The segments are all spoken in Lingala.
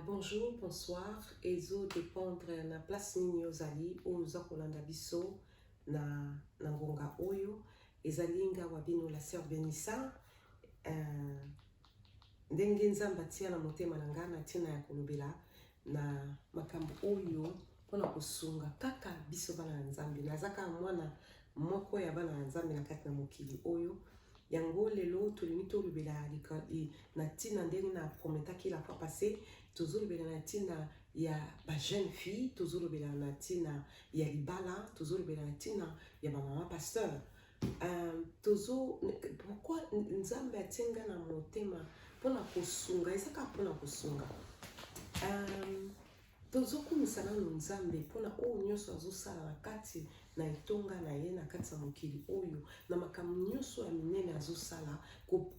Bonjour, bonsoir ezo dependre na place nini ozali oyo oza kolanda biso na na ngonga oyo ezali nga wa bino la sœur Benissa euh, ndenge Nzambe atia na motema na nga na ntina ya kolobela na makambo oyo mpona kosunga kaka biso bana ya Nzambe naza kaka mwana Moko ya bana na Nzambe na kati na mokili oyo yango lelo tolingi tolobela na ntina ndenge na prometaki la fois passé tozolobela na ntina ya bajeune fille tozolobela na ntina ya libala tozolobela na ntina ya bamama pasteur um, tozo pourquoi nzambe atie nga na motema mpona kosunga ezaka mpona kosunga um, Tozokumisa nanu Nzambe mpo na oyo nyonso azosala na kati na etonga na ye na kati ya mokili oyo na makambo nyonso ya minene azosala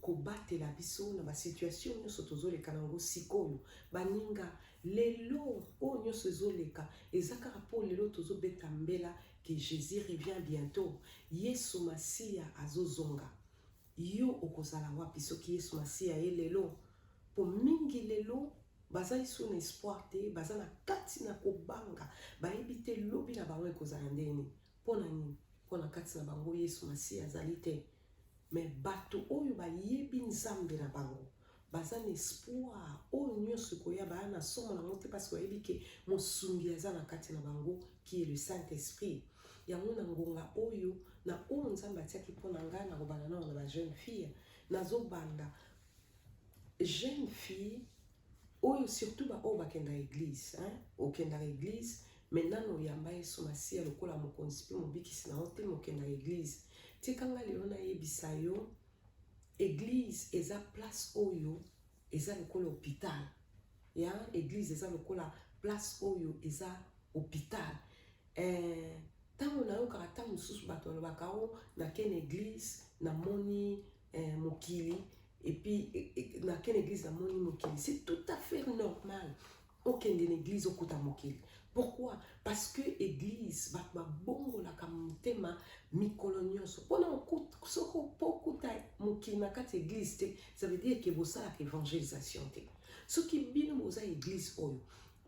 kobatela ko biso na basituation nyonso tozoleka na yango sikoyo baninga lelo oyo nyonso ezoleka eza kaka mpo lelo tozobeta mbela que jésus revient bientôt yesu masiya azozonga Yo okozala wapi soki Yesu Masiya ye lelo? Po mingi lelo baza isu na espoir te, baza na kati na kobanga, bayebi te lobi na bango ekozala ndenge nini. Mpo na nini? Mpo na kati na bango Yesu Masiya azali te. Me bato oyo bayebi Nzambe na bango baza na espoir oyo nyonso ekoya baya na somo nango te parce bayebi ke mosungi aza na kati na bango qui est le saint esprit yango na ngonga oyo na oyo nzambe atiaki mpo na ngai na kobanda nao na bajeune fille nazobanda jeune fille oyo surtout baoyo bakendaka eglise hein? okendaka eglise me nano oyamba yesu masiya lokola mokonzi mpe mobikisi na yo te mokendaka eglise tika ngai lelo nayebisa yo Eglise eza place oyo eza lokola hôpital. Ya eglise eza lokola place oyo eza hôpital. Eh, ntango nayokaka ntango mosusu bato balobaka o oh, nakene eglise namoni eh, mokili epuis eh, nakene eglise namoni mokili c'est tout à fait normal okende na eglise okota mokili pourquoi parce que eglise bato babongolaka motema mikolo nyonso mpona soko mpo okuta mokili na kati ya eglise te ça veut dire ke bosalaka évangélisation te soki bino boza eglise oyo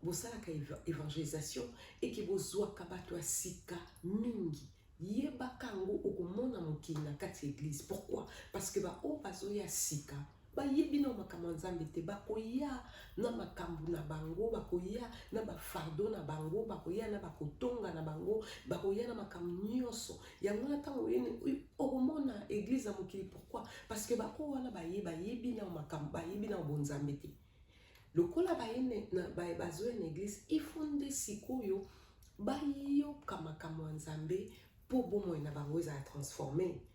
bosalaka évangélisation eke bozwaka bato ya sika mingi yebaka yango okomona mokili na kati ya eglise pourquoi parce que baoyo bazoya sika bayebi na makambo ya nzambe te bakoya na makambo na bango bakoya na bafardo na bango bakoya na bakotonga na bango bakoya na makambo nyonso yango wana ntango oyeni okomona eglize ya mokili pourkui parce que bako wana baye bayebi na makambo bayebi na bonzambe te lokola bazoya na eglize ifo nde sikoyo bayoka makambo ya nzambe mpo bomoi na bango ezala transforme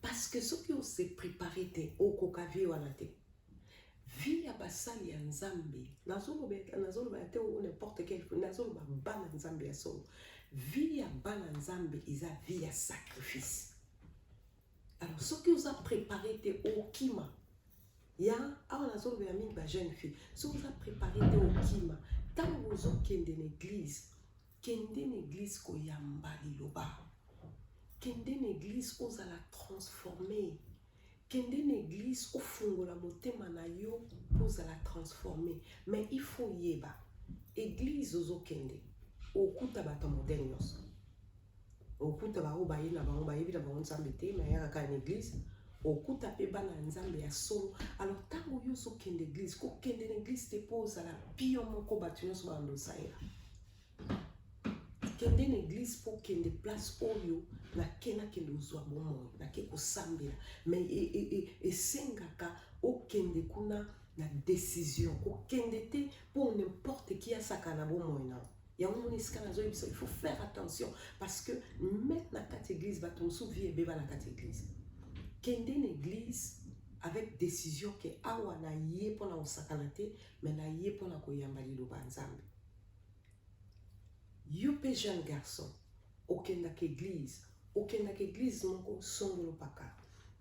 parce que soki on se prépare te okoka vie wana te vie ya basali ya nzambe nazoloba ya te o n'importe quel nazoloba bana nzambe ya solo vie ya bana nzambe eza vie ya sacrifice alors soki oza prépare te okima ya awa nazoloba ya mingi ba jeune fille soki oza prépare te okima ntango ozokende na église Kende na eglise koyamba liloba. Kende na eglise ozala transforme. Kende na eglise ofungola motema na yo mpo ozala transforme. Mais il faut oyeba eglise ozokende okuta bato ya modele nyonso. okuta baoyo baye na bango bayebi na bango nzambe te mayaka kaka na eglise okuta mpe bana ya nzambe ya solo alors ntango yo ozokende eglise kokende na eglise te mpo ozala pio moko bato nyonso banda osalela kende na eglise mpo okende place oyo nake nakende ozwa bomoi nake kosambela me e, e, e, esengaka okende kuna na décision kokende te mpo n'importe qui asaka na bomoi na yango moni esika nazoyebisa il faut faire attention parce que meme na kati église bato mosusu vie ebeba na kati église kende na église avec décision ke awa naye mpona kosakana te mais naye mpona koyamba liloba ya nzambe yo mpe jeune garçon okendaka église okendaka église moko songolo paka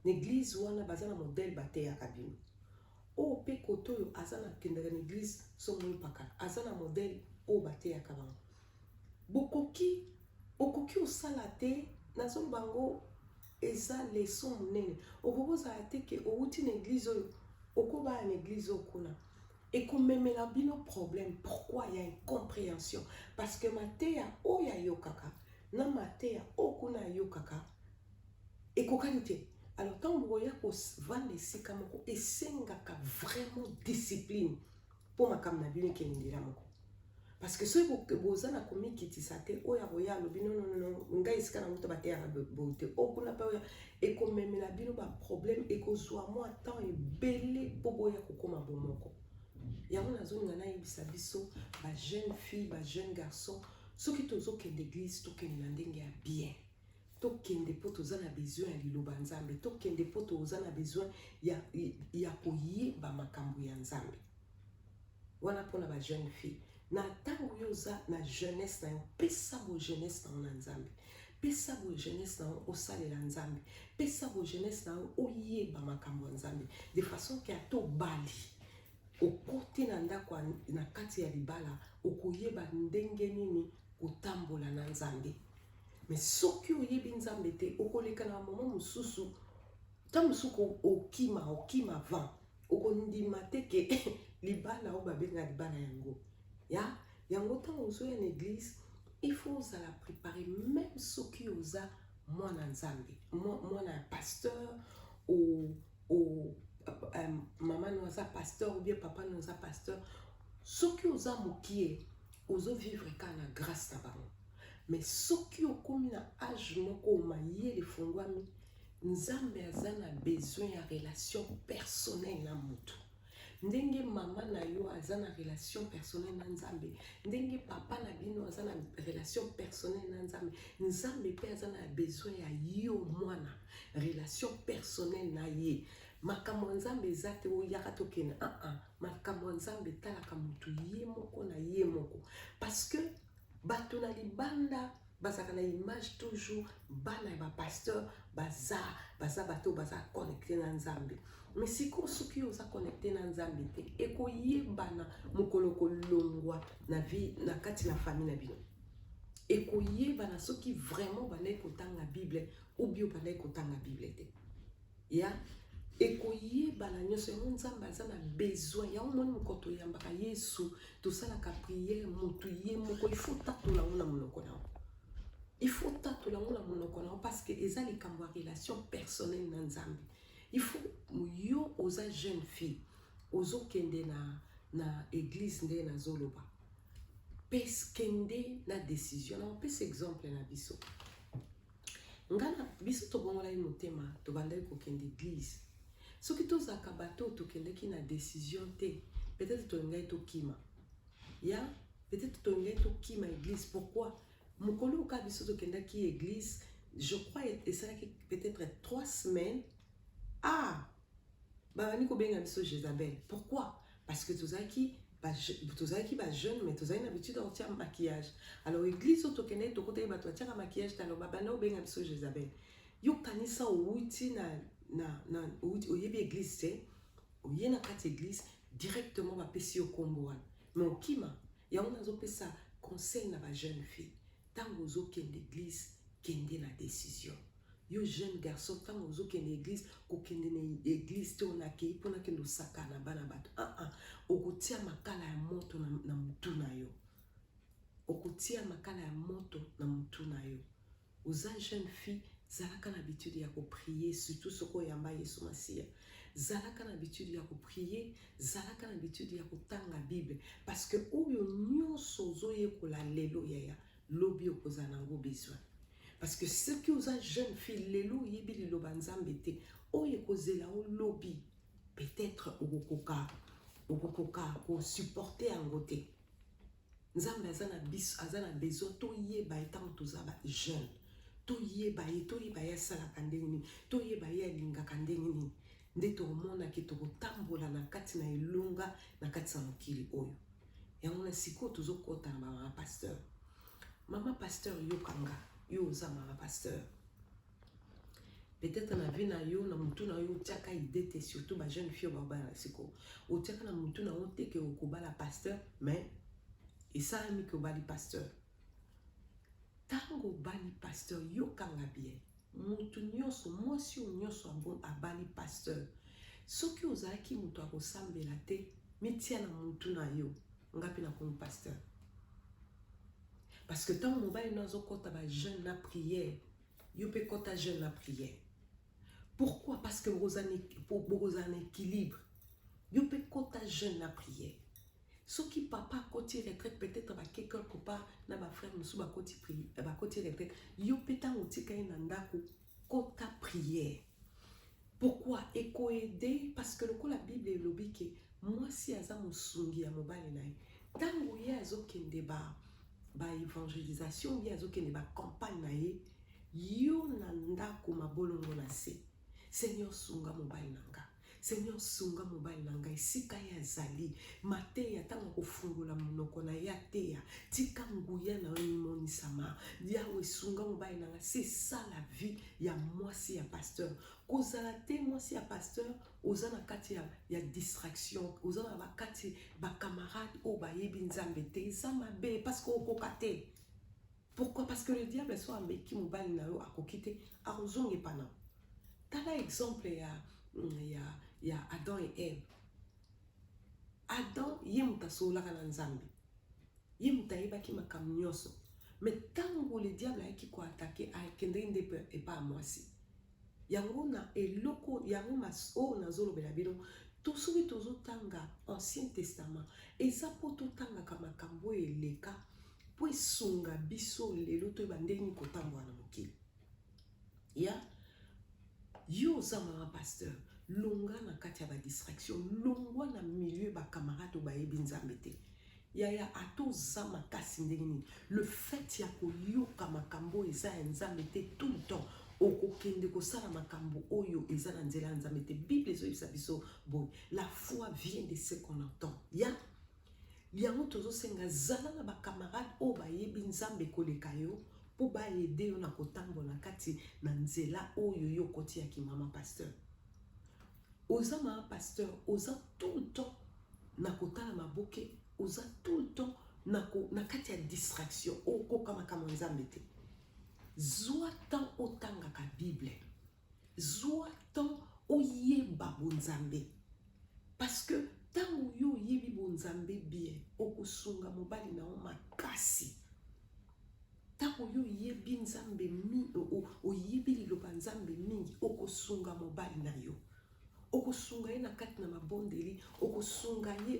na église wana baza na modèle bateyaka bino Oyo pe kote oyo aza na kendaka na eglise somo mpakala aza na modèle oyo bateyaka bango bokoki okoki osala te nazoloba yango eza leso monene okoki kozala te ke owuti na eglise oyo okobaya na eglise oyo kuna ekomemela bino problème pourquoi ya incomprehension parce que mateya oyo ayokaka na mateya oyo kuna ayokaka ekokani te alors ntango bokoya kovanda esika moko esengaka vraiment discipline mpo makambo na bino ekende nzela moko parce que soki boza na komikitisa te oyo akoya alobi nonono ngai esika na moto bateyaka boye te o oh, kuna mpe oyo ekomemela bino baproblème ekozwa mwa temps ebele mpo boya kokóma bomoko yango nazolinga nayebisa biso bajeune fille bajeune garçon soki tozokende église tokende na ndenge ya bien tokende mpo toza na besoin ya liloba ya nzambe tokende mpo toza na besoin ya, ya koyeba makambo ya nzambe wana mpo na bajeune fille na ntango yo oza na jeunesse na yo pesa boye jeunesse na yo na nzambe pesa boye jeunesse na yo osalela nzambe pesa boye jeunesse na yo oyeba makambo ya nzambe de façon ke ata obali okote na ndako na kati ya libala okoyeba ndenge nini kotambola na nzambe me soki oyebi nzambe te okoleka na mama mosusu ta mosuku okima okima van okondima te ke libala oyo babenga libala yango ya yango ntango ozoya na eglise il faut ozala prépare meme soki oza mwana nzambe mwana ya pasteur ou ou euh, maman no aza pasteur ou bien papa no aza pasteur soki oza mokie ozo vivre kaka na grâce na bango mais soki okomi na age moko mayele efongwami nzambe aza na besoin ya relation personnel na motu ndenge mama na yo aza na relation personnel na nzambe ndenge papa na bino aza na relation personnel na nzambe nzambe mpe aza na besoin ya yo mwana relation personnel na ye makambo ya nzambe eza te oyaka tokende aa ah, ah. makambo ya nzambe etalaka motu ye moko na ye moko parce que bato na libanda bazalaka na image toujours bana ya bapasteur baza baza bato oyo baza connecte na nzambe me sikoyo soki yo oza connecte na nzambe te ekoyebana mokolo kolongwa na vie na kati na famille na bino ekoyebana soki vraiment bandaki kotanga bible obio bandaki kotanga bible te ya ekoyebana nyonso yango nzambe aza na besoin yango moni moko toyambaka yesu tosalaka priere motu ye moko ifo tatola yango na monoko na yango ifo tatola yango na monoko na yango parce que eza likambo ya relation personnelle na nzambe ifo yo oza jeune fille ozokende na na eglise nde nazoloba peskende na décision na opesa exemple na biso nga na biso tobongolaki motema tobandaki kokende eglise soki tozalaka bato oyo tokendaki na décision te peut-être tolingaki tokima ya peut-être tolingaki tokima église pourquoi mokolo oyo kaka biso tokendaki église je crois esalaki peut-être trois semaines ah Babandi kobenga biso Jezabel. Pourquoi? Parce que tozalaki tozalaki ba jeune mais tozali na habitude ya kotia maquillage alors église oyo tokendeki tokotaki bato batiaka maquillage talo babanda obenga biso jezabel yokanisa owuti na, na, na owuti, oyebi église te oye na kati église directement bapesi yo nkombo wana mais okima yango nazopesa conseil na ba jeune fille tango ozo kende eglise kende na decision yo jeune garçon ntango ozokende eglise kokende na eglise te onakei mpo nakende osaka na bana bato aa ah, ah. okotia makala ya moto na, na motu na yo okotia makala ya moto na motu na yo oza jeune fille zalaka na habitude ya koprie surtout soki oyamba yesu masiya zalaka na habitude ya koprie zalaka na habitude ya kotanga bible parce que oyo nyonso ozoyekola lelo yaya lobi okozala nango besoin parce que soki oza jeune fille lelo oyebi liloba nzambe te oyo ekozela o lobi peut-être okokoka okokoka kosupporte yango te Nzambe aza na biso, aza na besoin toyeba ye ntango toza ba jeune, toyeba ye, toyeba ye asalaka ndenge nini, toyeba ye alingaka ndenge nini, nde tokomonake tokotambola na kati na elonga na kati ya mokili oyo. Yango na sikoyo tozokota na mama pasteur. Mama pasteur, yoka nga, yo oza mama pasteur. peut-être na vie na yo na mutu na yo otiaka idée te surtout ba jeune fille babala na siko otiaka na mutu na yo te ke okobala pasteur mais esalami ke obali pasteur ntango obali pasteur yokanga bien moto nyonso mwasi oyo nyonso abali pasteur soki ozalaki moto akosambela te mitia na motu na yo nga mpe nakomi pasteur parce que ntango mobali no azokɔta bajeune na priere Yo pe kota jeune na prière. Pourquoi? Parce que bokozala na équilibre. Yo pe kota jeune na prière. soki papa akoti retraite peut-être bake quelque part na bafrère mosusu bakoti bakoti retraite yo mpe ntango otika ye na ndako kota prière Pourquoi ekoede parce que lokola Bible elobi ke mwasi aza mosungi ya mobali na ye ntango ye azokende ba ba evangelisation ye azokende ba campagne na ye yo na ndako mabolongo na se seigneur sunga mobali na nga Seigneur sunga mobali na ngai esika ye azali mateya ntango akofungola monoko na ye ateya tika nguya na yo emonisama yawe sunga mobali na ngai c'est ça la vie ya mwasi ya pasteur kozala te mwasi ya pasteur oza na kati ya, ya distraction oza na bakati bacamarade oyo bayebi nzambe te eza mabe parce que okoka te pourquoi parce que le diable soit ameki mobali na yo akoki te akozonga epa na tala exemple ya, mm, ya, ya adam et eve adam ye moto asololaka na nzambe ye moto ayebaki makambo nyonso me ntango le diable ayaki koatake akendeki nde epa ya mwasi Yango na eloko yango mas oyo nazolobela bino to soki tozotanga ancien testament eza mpo totangaka makambo oyo eleka mpo esunga biso lelo toyeba ndenge nini kotambola na mokili ya yo oza mama pasteur longa na kati ya badistraction longwa na milieu bacamarade oyo bayebi nzambe te Yaya ata oza makasi ndenge nini le fait ya koyoka makambo oyo eza ya nzambe te tout le temps okokende kosala makambo oyo eza na nzela ya nzambe te bible ezoyebisa biso boye la foi vient de ce qu'on entend ya yango tozosenga zala na bacamarade oyo bayebi nzambe koleka yo mpo baede yo na kotambola kati na nzela oyo yo okoti ya kimama pasteur oza ma pasteur oza tout le temps na kotala maboke oza tout le temps na, ko, na kati ya distraction okoka makambo ya nzambe te zwa temps otangaka bible zwa temps oyeba bonzambe parce que ntango yo oyebi bonzambe bien okosunga mobali na yo makasi Ntango yo oyebi Nzambe mingi, oyebi liloba Nzambe mingi, okosunga mobali na yo okosunga ye na kati na mabondeli okosunga ye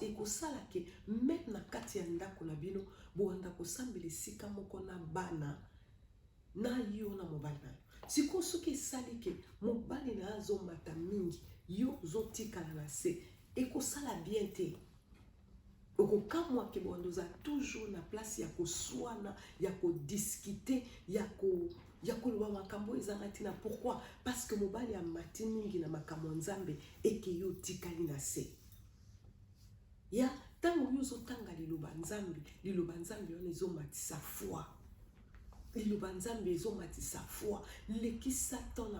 ekosala ke meme na kati ya ndako na bino bowanda kosambela esika moko na bana na yo na mobali na yo sikoyo soki esali ke mobali na yo azomata mingi yo ozotikala na se ekosala bien te Okokamwa ke bonde oza toujours na place ya koswana, ya kodiscuter, ya ko ya koloba makambo oyo ezanga ntina. Pourquoi? Parce que mobali amati mingi na makambo ya Nzambe eke yo otikali na se ya ntango yo ozotanga liloba Nzambe, liloba Nzambe wana ezomatisa foi liloba nzambe ezomatisa foi lekisa temps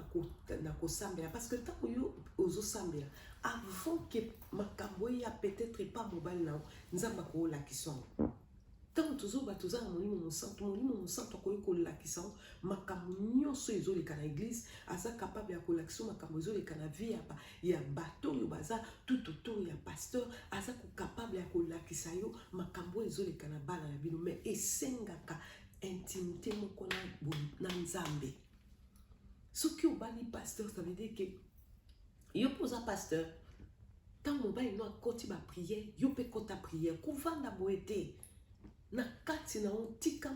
na kosambela parce que ntango yo ozosambela avant ke makambo eya peut-être epa mobali na yo nzambe akoolakisa yango ntango tozoba toza na molimo mosantu molimo mosantu akoki kolakisa yango makambo nyonso ezoleka na eglise aza kapable ya kolakisa makambo ezoleka na vie ya ya bato oyo baza tout autour ya pasteur aza kokapable ya kolakisa yo makambo oyo ezoleka na bana na bino mais esengaka intimité moko na, na nzambe soki obali pasteur ça veut dire que yo mpo oza pasteur ntango mobali no akoti bapriere yo mpe kota priere kovanda boye te na kati na yo tika,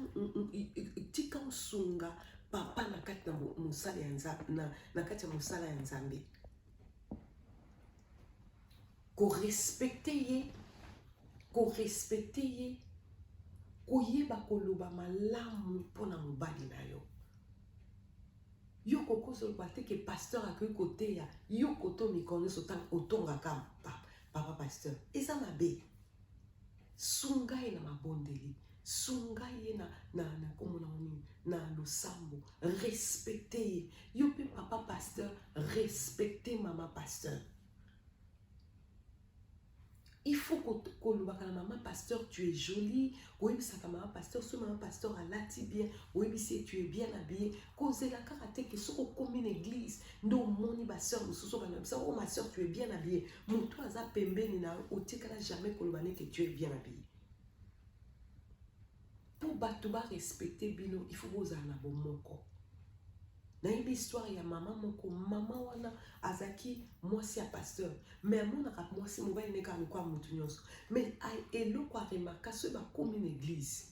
tika osunga papa na kati na mosala ya nzambe na, na kati ya mosala ya nzambe korespecte ye korespecte ye koyeba koloba malamu mpo na mobali na yo yo kokosa oloba te ke pasteur akoki koteya yo koto mikolo nyonso ntango otongaka papa pasteur eza mabe sunga ye na mabondeli sunga ye na, na, na kombo na nini na losambo respecte ye yo mpe papa pasteur respecte mama pasteur il faut kolobaka na mama pasteur tu es jolie koyebisaka mama pasteur soki mama pasteur alati bien oyebisi ye tu es bien habillé kozela kaka te ke soki okomi na eglise nde omoni baseur mosusu okanabisa o oh, ma sœur tu es bien habillé moto aza pembeni na yo otikala jamais koloba neke tu es bien habillé mpo bato barespecte bino il faut bozala na bomoko nayebi histoire ya mama moko mama wana azalaki mwasi ya pasteur mais amonaka mwasi mobali nekaka lokola moto nyonso mais eloko aremarka soki bakomi na eglise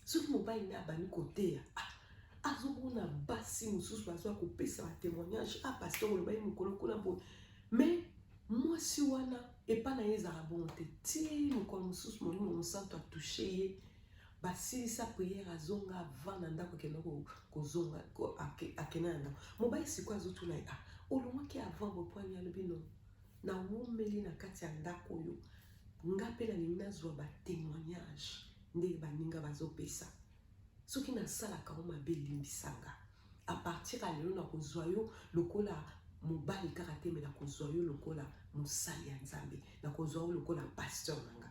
soki mobali nde abandi koteya ah, azomona basi mosusu bazoya kopesa ba témoignage a ah, pasteur olobaki mokolo kuna boye mais mwasi wana epai na ye ezala bongo te ti mokolo mosusu molimo mosantu atouche ye basilisa priere azonga avanda ndako akenda kozonga akenda na ndako mobali sikoyo azotuna ye a ah, olongwaki avant bopoani alobi no nawumeli na kati ya ndako oyo nga mpe nalingi nazwa batémoignage ndenge baninga bazopesa soki nasalaka yo mabe limbisa nga a partir ya lelo nakozwa yo lokola mobali kaka te me nakozwa yo lokola mosali ya nzambe nakozwa yo lokola pasteur na nga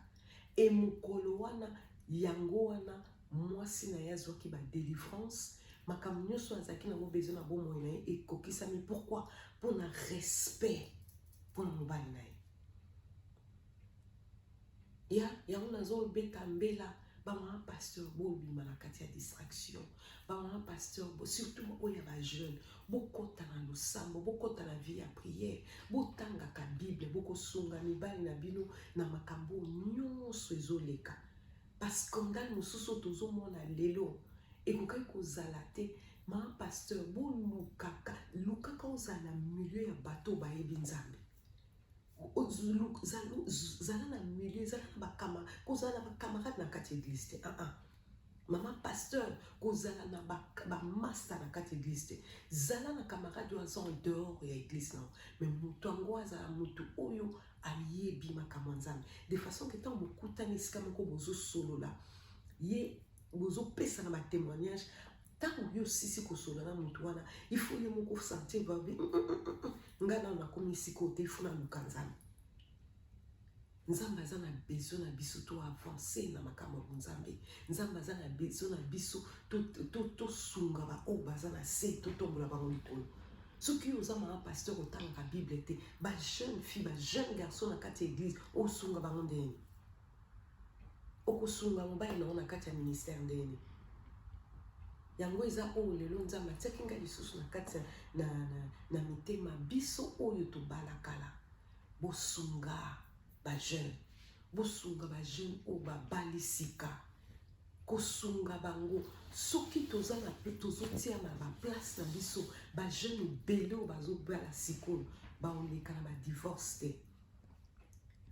e mokolo wana yango wana mwasi na ye azwaki badelivrance makambo nyonso azalaki nango besoin na bomoi na ye ekokisami pourkui mpo na respect mpo na mobali na ye ya yango nazobeta mbela bamama pasteur bobima na kati ya distraction bamama pasteur surtout oyo ya bajeune bokɔta na losambo bokɔta na vie ya prière botangaka bible bokosunga mibali na bino na makambo nyonso ezoleka bascandale mosusu oyo tozomona lelo ekokaki kozala te ma pasteur bolukaka lukaka ozala na milieu ya bato bayebi nzambe zala na milieu zala na bakama kozala na bacamarade na kati ya eglise te ah -ah. mama pasteur kozala na bamasta na kati ya eglise te zala na camarade oyo aza en dehors ya eglise nao me moto yango azala moto oyo ayebi makambo ya nzambe de façon ke ntango bokutani esika moko bozosolola ye bozopesana batémoignage ntango yo osisi kosola na moto wana ifo yo moko sentir babi mm, mm, mm, nga nano nakomi esika oyo te ifo naluka nzambe nzambe aza na besoin na biso to avancer na makambo ya nzambe nzambe aza na besoin na biso tosunga baoyo baza na se totombola bango likolo soki yo oza mama pasteur otangaka bible te bajeune fille bajeune garçon na kati ya eglise osunga bango ndenge okosunga mobali na yo na kati ya ministère ndenge nini yango eza oyo lelo nzambe atiaki ngai lisusu na kati na, na, na mitema biso oyo tobalakala bosunga bajeune bosunga bajeune oyo babali sika kosunga bango soki toza na tozotia na baplace na biso bajeune ebele oyo bazobala sikoyo baoleka na badivorce te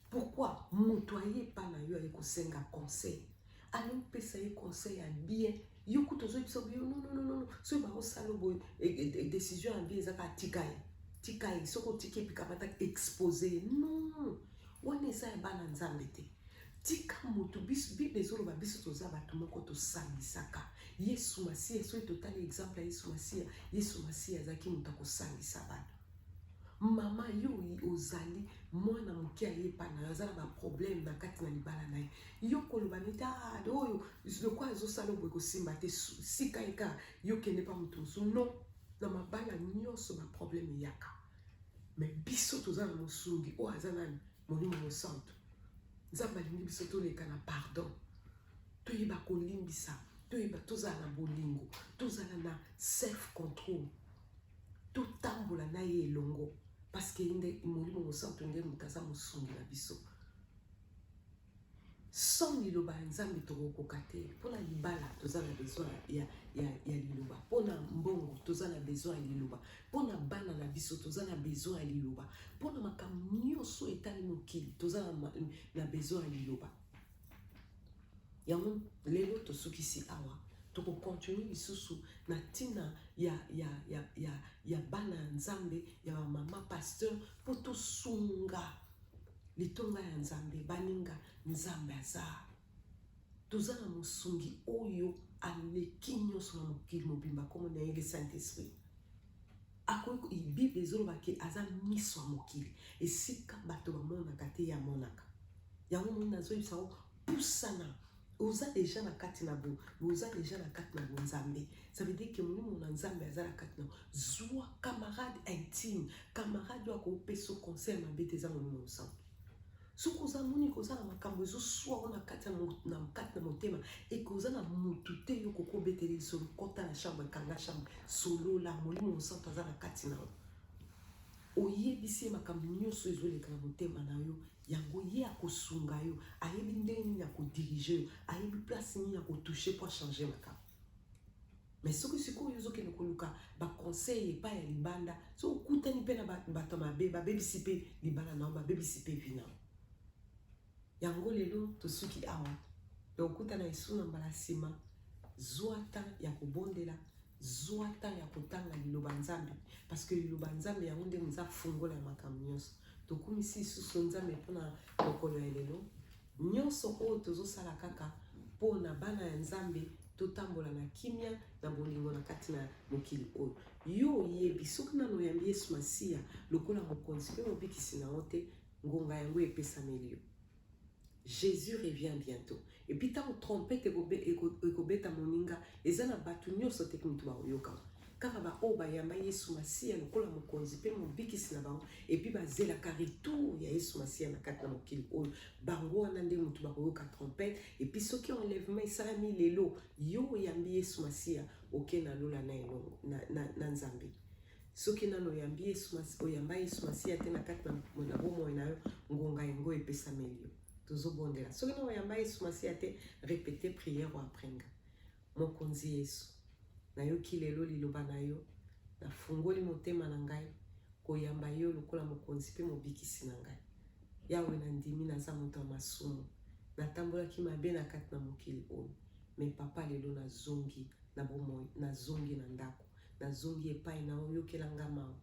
pourquoi moto aye epa na yo aye kosenga conseil ayo pesa ye conseil ya bien yo kutu ozoyebisa yo nononono soki bakosala boye e, e, e, décision ya bien eza kaka tika ye tika ye soki otiki epikamata expose ye non wana eza ya bana nzambe te tika moto biso bible ezoloba biso toza bato moko tosambisaka yesu masiya soki totali exemple ya yesu masiya yesu masiya azalaki moto akosambisa bato mama yo ozali mwana moke ayepa na yo aza na baproblème na kati na libala na ye yo koloba neti ah, oyo lokola azosala oboye kosimba te sika eka yo kende mpa moto mosusu non na mabala nyonso baproblème eyaka me biso toza na mosungi oyo aza nani molimo mosantu nzambe alingi biso toleka na pardon toyeba kolimbisa toyeba tozala na bolingo tozala na self control totambola na ye elongo parceke ye nde molimo mosantu nde moto aza mosungi na biso sans liloba ya nzambe tokokoka te mpona libala toza na besoin ya, ya, ya liloba mpona mbongo toza na besoin ya liloba mpona bana na biso toza na besoin ya liloba mpona makambo nyonso etali mokili toza na, na besoin ya liloba yango lelo tosukisi awa tokokontinue lisusu na ntina ya, ya, ya, ya, ya bana ya nzambe ya bamama pasteur mpo tosunga litonga ya nzambe baninga nzambe aza toza na mosungi oyo aleki nyonso na mokili mobimba nkombo na ye le saint esprit akoki bible ezoloba ke aza miso ya mokili esika bato bamonaka te ye amonaka yango moni nazoyebisa yo pusana oza deja na kati na bo oza deja na kati na bonzambe ça veut dire que molimo na nzambe aza na kati na zwa camarade intime camarade oyo akopesa conseil mabe te eza molimo mosantu soki oza moni koza na makambo ezoswa o na kati na kati na motema eke oza na motu te yo koki obetele lisolo kota na chambre kanga chambre solola molimo mosantu aza na kati na yo oyebisi ye makambo nyonso ezoleka na motema na yo yango ye akosunga yo ayebi ndenge nini akodirige yo ayebi place nini akotouche mpo achange makambo mais soki sikoyo ozokende koluka baconseil epai ya libanda so okutani mpe na bato mabe babebisi mpe libala nao babebisi mpe vi nao yango lelo tosuki awa na okutana esu na mbala nsima zwa temps ya kobondela zwa temps ya kotanga liloba nzambe parce que liloba nzambe yango nde moza fungola ya makambo nyonso tokumisi lisusu nzambe mpona mokolo ya lelo Nionso oyo tozo sala kaka po na bana ya Nzambe to tambola na kimia na bolingo na kati na mokili oyo. Yo oyebi soki nanu oyambi Yesu Masiya lokola mokonzi pe mobikisi na yo te, ngonga yango epesameli yo. Jesus revient bientot. Et puis tango trompette ekobeta moninga, eza na batu nionso te mutu bakoyoka. Kaka ba oyo bayamba Yesu Masiya lokola mokonzi mpe mobikisi na bango epi bazelaka retour ya Yesu Masiya na kati na mokili oyo, bango wana nde moto bakoyoka trompette. Epi soki enlèvement esalami lelo, yo oyambi Yesu Masiya, oke na lola na elongo na, na, na Nzambe. Soki nano oyambi Yesu Masiya, oyamba Yesu Masiya te na kati na, na bomoi na yo, ngonga yango epesameli yo. Tozobondela. Soki nano oyamba Yesu Masiya te, repete prière oyo après nga. Mokonzi Yesu, nayoki lelo liloba na yo, nafungoli motema na ngai koyamba yo lokola mokonzi mpe mobikisi na ngai. Yawe, nandimi naza moto ya masumu, natambolaki mabe na kati na mokili oyo, me papa, lelo nazongi na bomoi, nazongi na ndako, nazongi epai na yo, yokela nga mawa.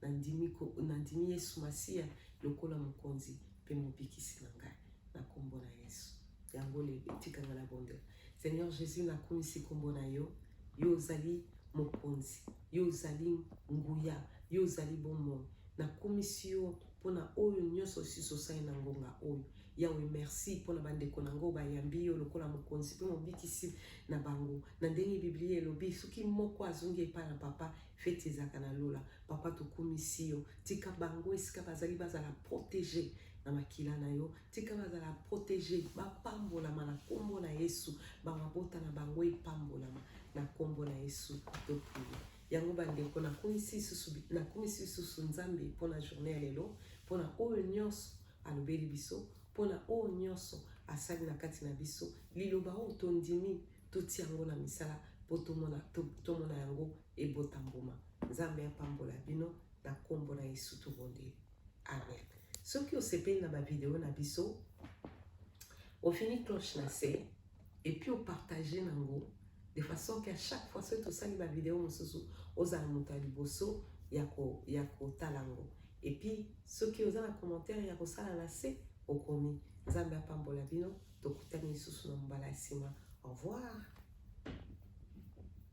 Nandimi, ko, nandimi Yesu Masiya lokola mokonzi mpe mobikisi na ngai, na kombo na Yesu. Yango lelo etikanga na bondela. Seigneur Jesus, nakumisi kombo na yo, yo ozali mokonzi, yo ozali nguya, yo ozali bomoi. Nakumisi yo mpo na oyo nyonso osusu osali na ngonga oyo. Yawe, merci mpo na bandeko na yango bayambi yo lokola mokonzi mpe mobikisi na bango. Na ndenge Biblia elobi, soki moko azongi epai na papa, feti ezalaka na lola. Papa, tokumisi yo, tika bango esika bazali bazala protege na makila na yo, tika bazala protege bapambolama na nkombo na yesu bamabota na bango epambolama na nkombo na yesu toprie yango bandeko nakumisi lisusu nakumisi lisusu nzambe mpo na journée ya lelo mpo na oyo nyonso alobeli biso mpo na oyo nyonso asali na kati na biso liloba oyo tondimi totia yango na misala mpo tomona, to, tomona yango ebota mbuma nzambe apambola bino na nkombo na yesu tobondeli Amen. Soki osepeli na ba video na biso, ofini cloche na se et puis opartage nango de façon que à chaque fois soki tosali ba video mosusu ozala moto ya liboso ya kotala yango et puis soki oza na commentaire ya kosala na se okomi nzambe apambola bino tokutani lisusu na mbala ya nsima au revoir